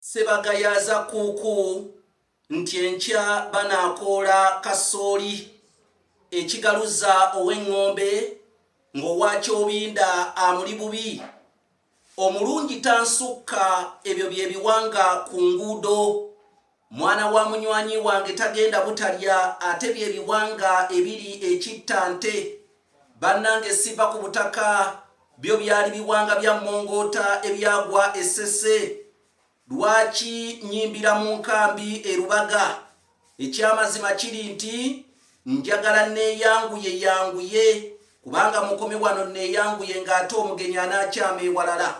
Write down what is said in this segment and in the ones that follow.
Sebagayaaza Kkuuku nti enkya banaakoola kasooli e Kigaluza ow'engombe ng'owa Kyobinda amuli bubi. Omulungi tansukka ebyo bye biwanga ku nguudo. Mwana wa munywanyi wange tagenda butalya ate bye biwanga ebiri e Kittante. Bannange siva ku butaka, byo byali biwanga bya mmongoota ebyagwa e Ssese. Lwaki nnyimbira mu nkambi e Lubaga? Ekyamazima kiri nti njagala nneeyanguye yanguye kubanga mukomi wano nneeyanguye ng'ate omugenyi anaakyama ewalala.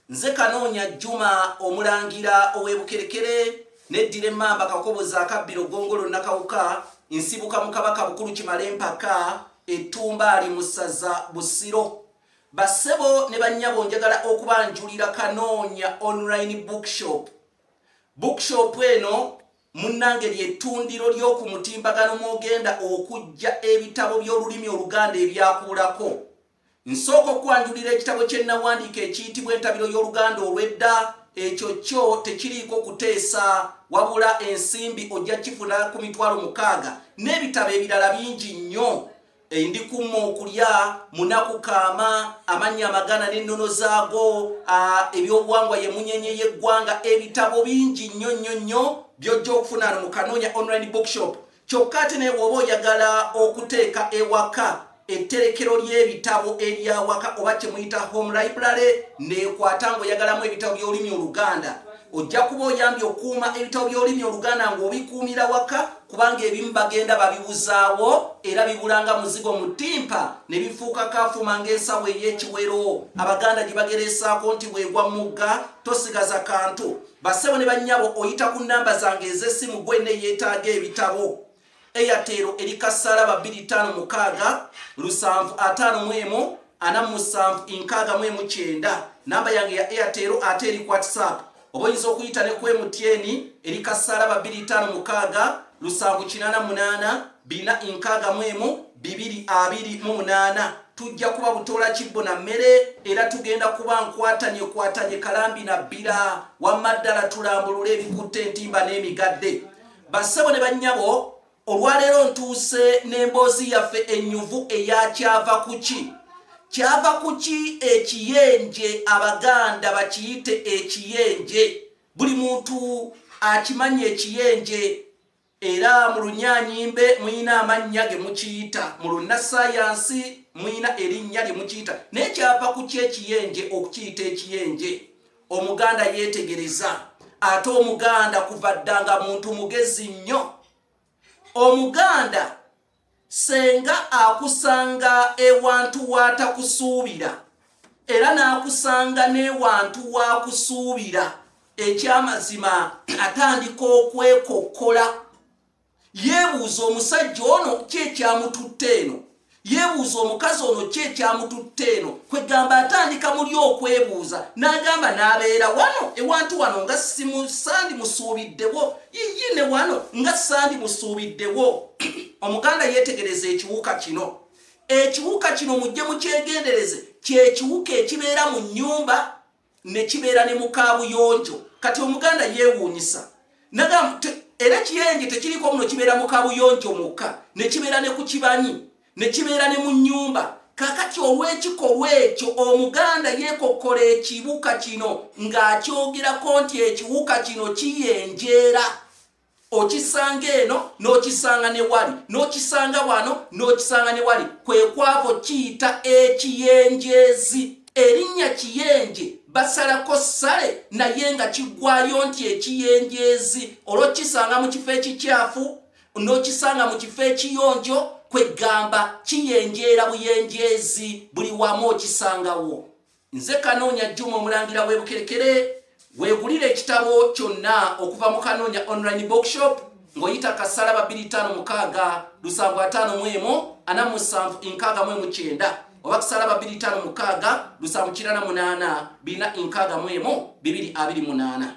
Nze Kanoonya Juma omulangira ow'e Bukerekere neddira emmamba kakobozi akabbiro ggongolo nnakawuka nsibuka mu kabaka bukulu kimale empaka ettumba ali mu ssaza Busiro. Bassebo ne bannyabo njagala okubanjulira Kanoonya online bookshop. Bookshop eno munnange lyettundiro ly'oku mutimbagano mw'ogenda okujja ebitabo by'olulimi Oluganda ebyakuulako. Nsooka okwanjulira ekitabo kye nnawandiika ekiyitibwa Entabiro y'Oluganda olw'edda. Ekyo kyo tekiriiko kuteesa, wabula ensimbi ojja kifuna ku mitwalo mukaaga n'ebitabo ebirala bingi nnyo. Endikumma okulya, munaku kaama, amannya amagana n'ennono zaago, ebyobuwangwa ye munyenye y'eggwanga, ebitabo bingi nnyo nnyo nnyo by'ojja okufuna ano mu Kanoonya Online Bookshop. Kyokka ate naye bw'oba oyagala okuteeka ewaka etterekero ly'ebitabo ery'awaka oba kye muyita home library neekwata ng'oyagalamu ebitabo by'olulimi Oluganda ojja kuba oyambye okukuuma ebitabo by'olulimi Oluganda ng'obikuumira waka kubanga ebimu bagenda babibuzaawo era bibulanga muzigo mu ttimpa ne bifuuka kafuma ng'ensawo ey'ekiwero abaganda gye bagereesaako nti bwegwa mugga tosigaza kantu Bassebo ne bannyabo oyita ku nnamba zange ez'essimu gwe ne yeetaaga ebitabo Airtel eri kasaala ba 256 lusanvu ataano mu emu ana mu musanvu enkaaga mu emu kyenda namba yange ya Airtel ate eri whatsapp oba oyinza okuyita ne ku MTN eri kasaala ba 256 lusanvu kinaana munaana bina nkaaga mu emu bibiri abiri mu munaana tujja kuba butoola kibbo na mmere era tugenda kuba nkwatanye kwatanye kalambi na bbira wamma ddala tulambulule ebikutte entimba n'emigadde bassebo ne bannyabo olwaleero ntuuse n'emboozi yaffe ennyuvu eyakyava ku ki kyava ku ki ekiyenje abaganda bakiyite ekiyenje buli muntu akimanyi ekiyenje Era mu lunyanyimbe muyina amannya ge mukiyita, mu lunnasayansi muyina erinnya lye mukiyita, naye kyava ku kyekiyenje okukiyita ekiyenje. Omuganda yeetegereza, ate Omuganda kuva dda nga muntu mugezi nnyo. Omuganda. Ssenga akusanga ewantu w'atakusuubira era n'akusanga n'ewantu w'akusuubira. Eky'amazima atandika okwekokkola. Yeebuuza, Omusajja ono ki ekyamututte eno? Yeebuuza, Omukazi ono ki ekyamututte eno? Kwegamba atandika muli okwebuuza n'agamba n'abeera wano ewantu wano nga simusandi musuubiddewo Yiyi ne wano nga sandi musuubiddewo omuganda yeetegereza ekiwuka kino ekiwuka kino mujje mukyegendereze kyekiwuka ekibeera mu nnyumba ne kibeera ne mukaabuyonjo kati omuganda yeewuunyisa era kiyenje tekiriko muno kibeera mukaabuyonjo mukka ne kibeera ne ku kibanyi ne kibeera ne mu nnyumba kakati olw'ekikolwa ekyo omuganda yeekokkola ekibuka kino ng'akyogerako nti ekiwuka kino kiyenjeera okisanga eno n'okisanga ne wali n'okisanga wano n'okisanga ne wali kwe kwavo kiyita ekiyenjeezi erinnya kiyenje basalako ssale naye nga kiggwayo nti ekiyenjeezi olwokisanga mu kifo ekikyafu n'okisanga mu kifo ekiyonjo kweggamba kiyenjeera buyenjeezi buli wamu okisangawo nze kanoonya juma omulangira w'ebukerekere weegulira ekitabo kyonna okuva mu kanoonya online bookshop ng'oyita kasala babiri tano mukaaga lusanvu ataano mu emu ana musanvu enkaaga mu emu kyenda oba kusala babiri tano mukaaga lusanvu kirana munaana birina enkaaga mu emu bibiri abiri munaana